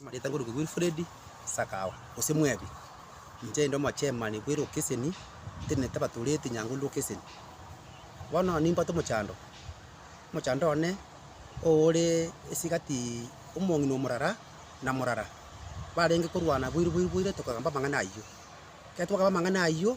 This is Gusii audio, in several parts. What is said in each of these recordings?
Amarieta ngoruke Wilfred Sakawa, gose Mwebi. Inche inde omochemani bw'elokeseni etenenete abatoreti Nyang'huru lokeseni. Bono nimbwate omochando, omochando one ore esigati omong'ina omorara na morara, barenge korwana boiri boiri boiri tokagamba amang'ana ayio. Ekero twakagamba amang'ana ayio,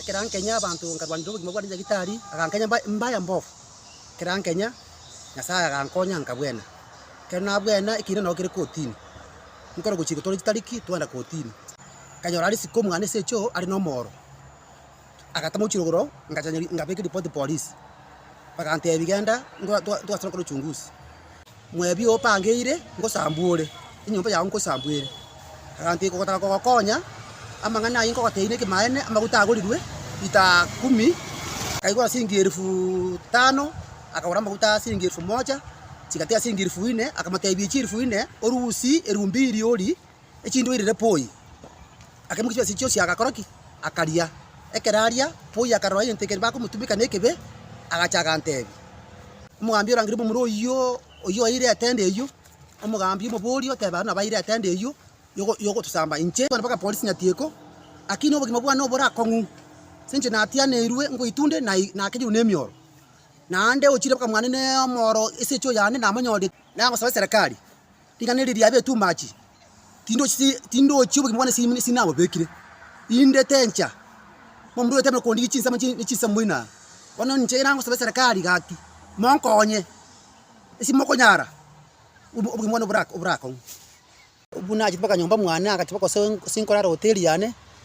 Ekero ankenya abanto nkarwanera obogima bwane nyagetari, agankenya mba embaya mbofu. Ekero ankenya, Nyasaye agankonya nkabwena. Ekero nabwena, ekiina nao kere kotini. Nkore gochia gotooria chitariki twagenda kotini. Nkanyora risiko omwana ase echoo are nomooro. Agatama gochirogora oo, ngacha ngabeka eripoti polisi. Bagantebia genda twa twa twasore gokora uchunguzi. Mwebio opangeire, ngosambuore, enyomba yao nkosambuere, egento eke ogotaka kogokonya, amang'ana ayio nkogoteine ekemaene, amaguta agorirwe lita kumi, akaigora siringi elifu tano, akagora amaguta siringi elifu mocha, chigati ya siringi elifu ine, akamotebia echi elifu ine, orusie eriombiri ori. echindwairire poi, akemwa chibaasi echi chionsi agakora ki? Akaria. Ekero aria, poi akarora egento ekero bakomotumeka nekebe, agacha agantebi, Omogambi orangeire omomura oyio, oyio oeire etend eyio, omogambi omobori otebe aria nabo aeire etend eyio yogo yogotosamba inche kogenda mpaka polisi nyatieko, lakini obogima bwane obore akong'u, ase inche natianeirwe ngoitunde na nakenyirwe na emioro, naende ochire mpaka mwane na omooro ase echoo yane namonyorire, nagosaba eserekari. Riganeri riabe etumachi, tindochi obogima bwane sinabobekire, inde tencha omonto oyote abe kondigia chinsemo ne chinsemo inaa. Bono inche ekero nagosaba eserekari gaki, monkonye ase mokonyara obogima bwane oborakong'u. Buna ache mpaka nyomba mwane agachie mpaka gose nkorara hoteli yane.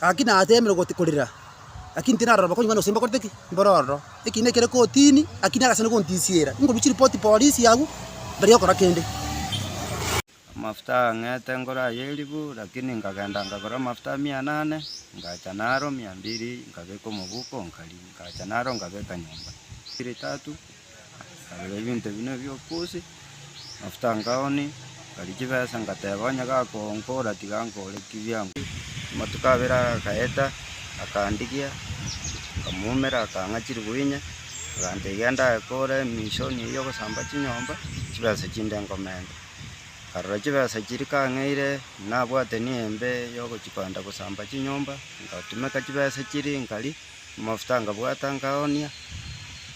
Gaki nateemire gose korera, gaki tinarora bakong'ina gose mbakorete ki? Mbore ororo. Ekiina ekere kotini, gaki nagasana gontisiera. Inkorusia ripoti polisi agwo, ndari okora kende. Amafuta agang'ete ngore aye elifu, lakini nkagenda nkagora amafuta mia nane, nkacha naro mia mbili, nkabeka omobuko, nkari, nkacha naro nkabeka nyomba. Chiri tatu, Nkarora ebinto ebi nebi'okosi, amafuta nkaoni, nkari chibesa, ngateba, onye gakonkora tiga nkore ki biango. Amatuko abere agaeta, akandigia, nkamumera, akang'a chiriguinya, agantebia, genda aye kore emishoni eyio ogosamba chinyomba, chibesa chinde nkomenta. Nkarora chibesa chiria kang'eire, nabwate ni'embe yogochipanda gosamba chinyomba, ngatumeka chibesa chiria nkari. Amafuta ngabwata ngaoonia,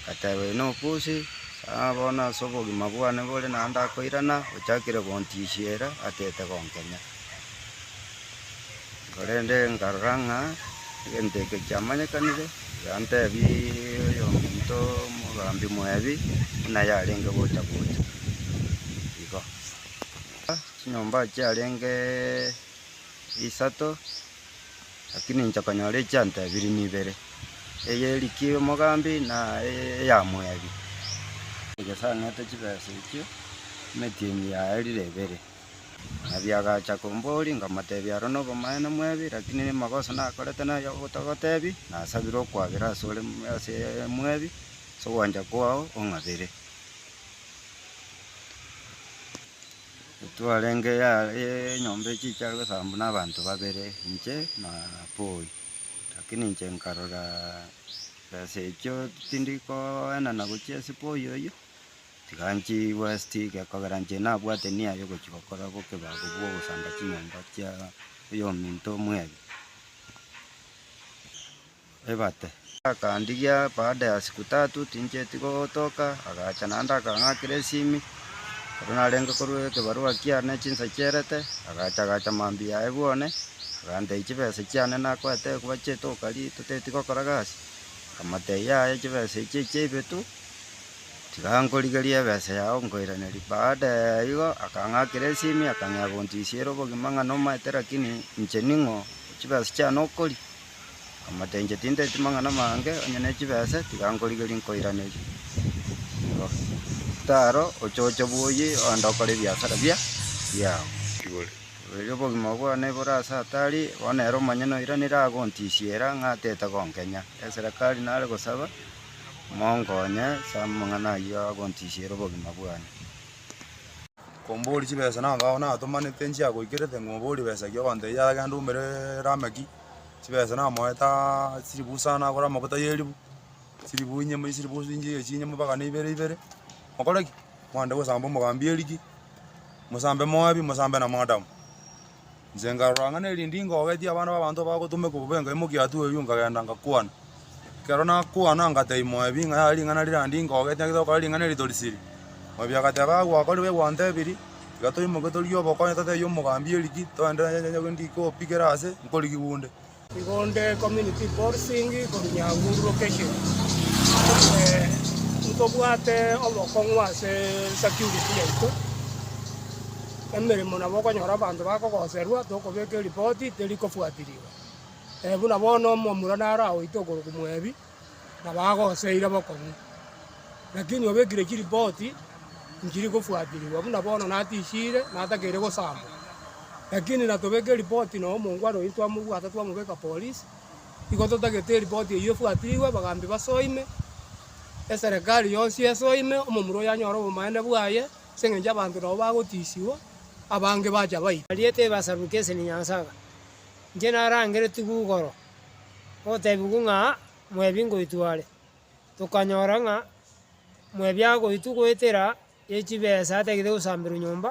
ngateba, Inee obosie? Aa bono ase obogima bwane bore naende akoirana, ochakire gontisiera, atete gonkenya. Korende nkarora ng'a egento eke kiamanyekanire, yantebia oyominto omogambi mwebi, buna yarenge gocha gocha. Igo. Chinyomba chiarenge isato. Lakini inche konyora echianto ebiri nibere, eye erikia omogambi na eye eya moebi. Nyasae ang'ete chibesa echio, emetienyi yaerire ebere. Moebi agacha komboria, nkamotebia aro nobomaene moebi, lakini amagoso nakorete naya ogotogotebi, nasabire okwabera asore ase moebi, ase ogwancha kwao ong'abere. Twarenge enyomba echiche aria gosaaba buna abanto babere, inche na Paul. Lakini inche nkarora chibesa echio tindi koenana gochia ase Paul oyio, tiga nchie west gekogera inche nabwate nia ya ogochia gokora bo kebago bwo ogosamba chinyomba chia oyominto omwebe. ebate. Akandigia baada ya siku tatu tincheti gotoka, agacha naende akang'akera esimi, ekero narenge korwa ekebarua kiane chinsa chierete, agacha agacha mambia yaye bwone, agantebia chibesa chiane nakoete koba chietoka riria toteti gokora gasi, nkamotebia yaya chibesa echi echia ebitu, tiga nkorigerie ebesa yao nkoiranerie, baada ya igo akang'akera esimi akang'ea gontisiera obogima ng'a nomaete lakini inche ning'o chibesa chiane okoria. Amatenche tinteti mang'ana amange, onye ne chibese tiga nkorigerie nkoiranerie. Igo. Taro ochoche bwoyi ogende okore ebiasara bia biao. Igoro. Riria obogima bwane bore ase hatari, bono ere omonyene oiranire agontisiera ng'a atete gonkenya. Eserekari nare gosaba monkonye ase amang'ana ayio agontisiera obogima bwane. Komboria chibesa nanga onatomanete nchiagoikerete ng'a oborie besa ki ogontebia yaya genda oumere Lameki. chibesa namoete aaaa chilifu isano agore amaguta y'elifu, chilifu inye moi chilifu chinche iga chinye mobagane ibere ibere, mokore ki? Mwande gosamba omogambi erigi, mosambe moabi, mosambe na moadamu. Inche nkarora ng'a na eriondi ngogetie abana ba abanto bagotomeka obobe engaimokia atu eywo nkagenda ngakwana. Ekero nakwana ngatebia Moabi ng'a yare ring'ana rirandii ngogete ng'agete gokora ring'ana eri torisiri. Moabi agateba, Aa gwakorire gwantebirie, tiga toimoke torie obokonyo totebie omogambi erigi, togende ndikopigere aase, nkorigi gunde. Igonde community policing korwa Nyahururu location ntobwate obokong'u ase security yaito, emeremo nabo okonyora abanto bakogoserwa tokobeka eripoti teri kofuatirigwa. Buna bono omomura naro agoite okorokwa Moebi, na bagoseire bokong'u. Lakini obekire chiripoti nchiri kofuaterigwa, buna bono natisiire, natakeire gosambwa. Lakini natobeke eripoti na omongwana oyio twamobwata twamobeka polisi, igo totagete eripoti eyio efuatirigwe, bagaambia basoime, eserekari yonsi esoime, omomura oyio anyore obomanene bwaye, ase eng'encho abanto nabo bagotisiwa, abange bacha baitwa. Bariete ebasaruke ase rinyansaga, Inche narangeretigwe igoro, gotebigwe ng'a mwebi ngoitwa are. Tokanyora ng'a mwebi agoitwa goetera ye chibesa atagete gosamberwa nyomba.